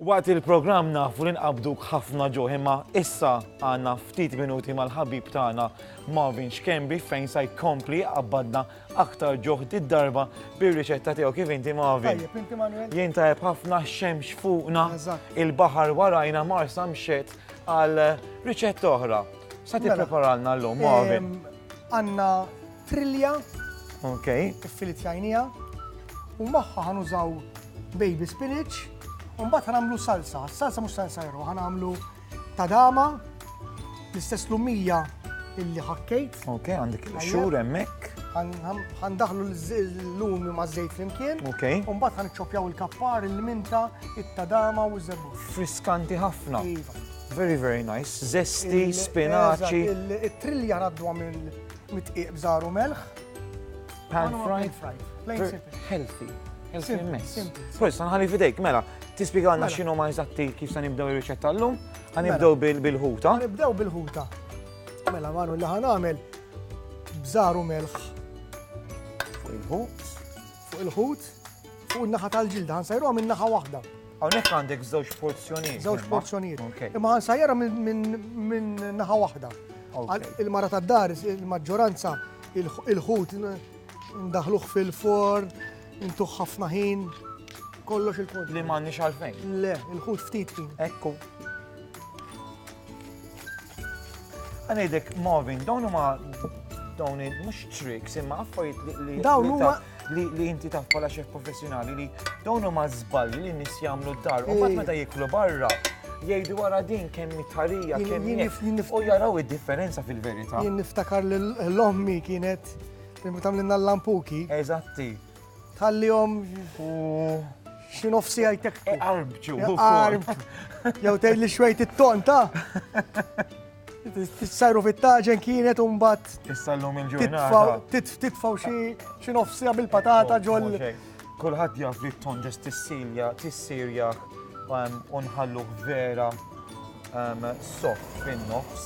Waqt il-programm nafu li nqabduk ħafna ġuħ imma issa għandna ftit minuti mal-ħabib tagħna Marvin Xkembi fejn sa jkompli qabbadna aktar ġuħ darba bir-riċetta tiegħu kif inti Marvin. Jien tajjeb ħafna xemx fuqna il-baħar warajna marsa mxet għal riċetta oħra. Sa mela, tippreparalna llum Marvin. Għandna trilja. Ok. Iffilitjajniha. U magħha ħanużaw baby spinach. U mbagħad ħanagħmlu salsa. Salsa mhux salsa jeru, ħanagħmlu tadama l-istess lumija illi ħakkejt. Ok, għandek xhur hemmhekk. Għandaħlu l-lumi ma' żejt flimkien. Ok. U mbagħad ħanċċopjaw il-kappar, il-minta, it-tadama u ż-żebbuġ. Friskanti ħafna. Iva. Very very nice, zesti, spinaċi. Il-trilja naddwa mill-mitqiq bżaru melħ. Pan fried. Healthy. Healthy mess. Prost, nħalli fidejk, mela, tispiega għanna mela. xinu ma jizatti kif sa nibdew il-riċetta l-lum, għanibdew mela. bil-ħuta. Għanibdew bil-ħuta. Mela, manu li għanamel bżaru melħ. Fuq il-ħut. Fuq il-ħut, fuq in-naħa tal-ġilda, ħansajruha minn naħa waħda. Hawnhekk għandek żewġ porzjonijiet. Żewġ porzjonijiet. Imma ħansajruha minn naħa waħda. Il-mara tad-dar, il-maġġoranza, il-ħut ndaħluh fil-forn, intuħ ħafna ħin, kollox il-kont. Li m'għandniex għalfejn. Le, il-ħut ftit ħin. Ekku. Għanajdek, Marvin, dawn huma dawn mhux tricks imma affarijiet li dawn huma li inti taf bħala xef professjonali li dawn huma żball li nies jagħmlu d-dar u mbagħad meta jiklu barra jgħidu wara din kemm mitħarija kemm u jaraw id-differenza fil-verità. Jien niftakar l-ommi kienet Meta tagħmlilna l-lampuki. Eżatti. Tħallihom xi nofs siegħa jtekku. Arbġu. Arb. Jew tgħidli xwejt it-ton ta' Tissajru fit-taġen kienet un bat. Tissallum il-ġurnata. Titfaw xi nofsija bil-patata ġol. Kulħadd jaf li t-ton ġest tissilja, tissirja unħallu vera soft fin-nofs.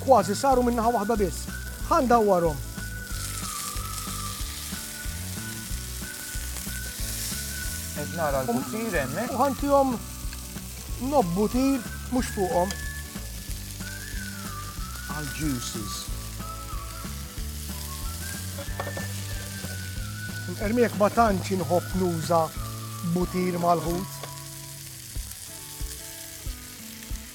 Kważi saru minn naħa waħda biss. Ħa ndawwarhom. Qed nara l-butir hemmhekk. U ħantihom nob butir mhux fuqhom. Għal juices. Ermiek ma tantx inħobb nuża butir mal-ħut.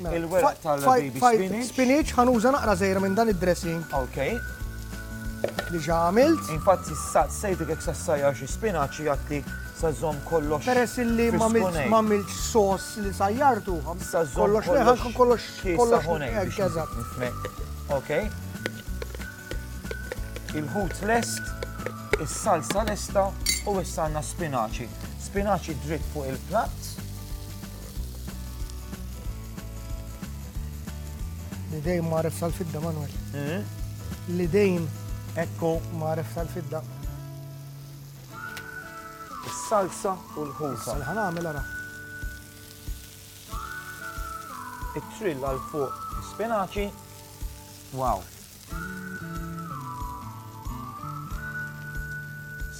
Il-weraq tal-baby spinach. Spinach, ħanuża naqra żgħira minn dan id-dressing. Ok. Li ġa għamilt. Infatti, sejtek jekk sassajja xi spinaċ jgħatti sażom kollox. Peress li ma għamilt sos li sajjartu. Sażom kollox kollox kollox kollox. Ok. Il-ħut lest, is-salsa lesta u issa għandna spinaċi. Spinaċi dritt fuq il-platt. L-idejn maref sal-fidda, Manuel. Hmm? L-idejn. Ekku. Maref sal-fidda. Is-salsa u l-ħusa. Salħan għamil għara. It-trill għal fuq spinaċi. Wow.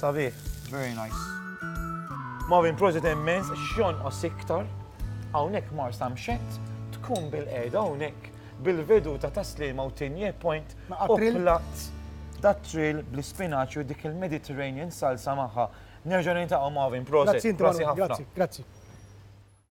Sabiħ. Very nice. Marvin prosit immens x'jonqos iktar hawnhekk Marsa mxett tkun bil-qiegħda hawnhekk bil-vedu ta' taslima u tinje point u plat da trill bl-ispinaċ u dik il-Mediterranean salsa magħha. Nerġa' nintaqgħu Marvin prosit. Grazzi, grazzi.